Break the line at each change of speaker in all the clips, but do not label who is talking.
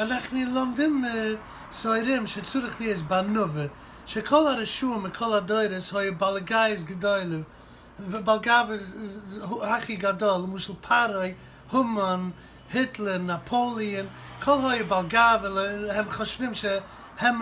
אנחנו לומדים סוירים שצריך להיות בענווה שכל הרשעים מכל הדורות היו בעלי גאוות גדולים בעל גאווה הכי גדול למשל פרעה המן היטלער נאפאליען כל היו בעל גאווה הם חושבים שהם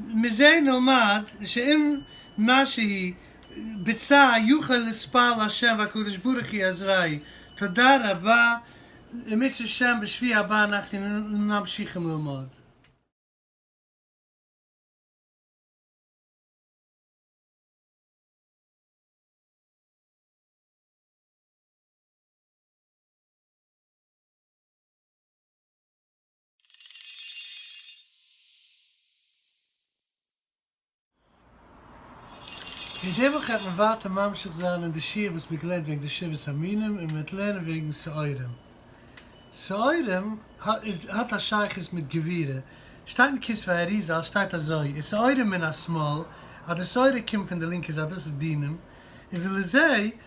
מזה נלמד שאם מה שהיא ביצע יוכל לספר להשם והקדוש ברוך היא עזרי' תודה רבה אם ירצה השם בשבי' הבא אנחנו ממשיכים ללמוד. אין די וואך העט מען ווייטער ממשיך זיין אין די שיעור וואס מען געלערנט וועגן די שבעת המינים און מען העט לערנען וועגן שעורים. שעורים האט א שייכות מיט גבירה, שטייט אין כספי האריזל שטייט אזוי און שעורים מן השמאל אז די שעורה קומט פון די לינקע זייט דאס איז דינים און ולזה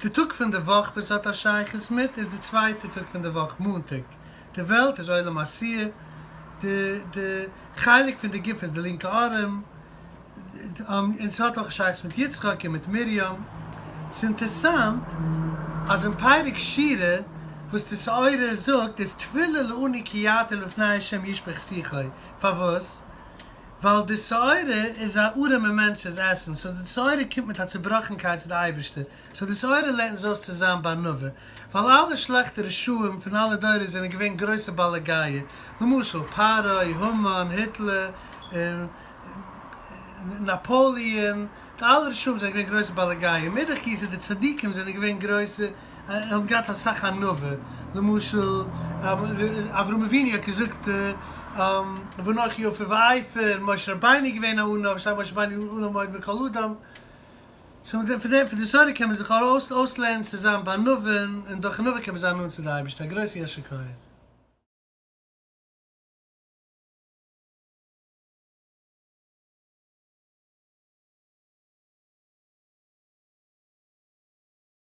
די טאג פון די וואך וואס עס האט א שייכות מיט איז די צווייטע טאג פון די וואך מאנטאג, די וועלט איז עולם העשיה, די די חלק פון די גוף איז די לינקע ארעם, און עס האט אויך א שייכות מיט יצחק און מיט מרים. עס איז אינטערסאנט אז אין פרק שירה וואס די סעודה זאגט איז תפילה לאני קייתי לפני ה' ישפוך שיחי, פארוואס? ווייל די שעורה איז א ארעמע מענטש'ס עסן, סאו די שעורה קומט מיט א צובראכנקייט צו די אייבערשטער, סאו די שעורה לערנט אונז אויס צו זיין בענווה, ווייל אלע שלעכטע רשעים פון אלע דורות זענען געווען גרויסע בעלי גאוה, למשל פרעה, המן, היטלער, נאפאליען, די אלע רשעים זענען געווען גרויסע בעלי גאוה, מאידך גיסא די צדיקים זענען געווען גרויסע ער האט געהאט אסאך ענווה, למשל אברהם אבינו האט געזאגט ואנכי עפר ואעפר, משה רבינו איז געווען א ענו, ושאר משה רבינו איז ענו מאוד מכל אדם, סאו פון דעם פון די סוטה קען מען זיך אויסלערנען צו זיין בענווין, און דורך ענווה קען מען זיין נאנט צו די אייבערשטער, א גרויסן יישר כח.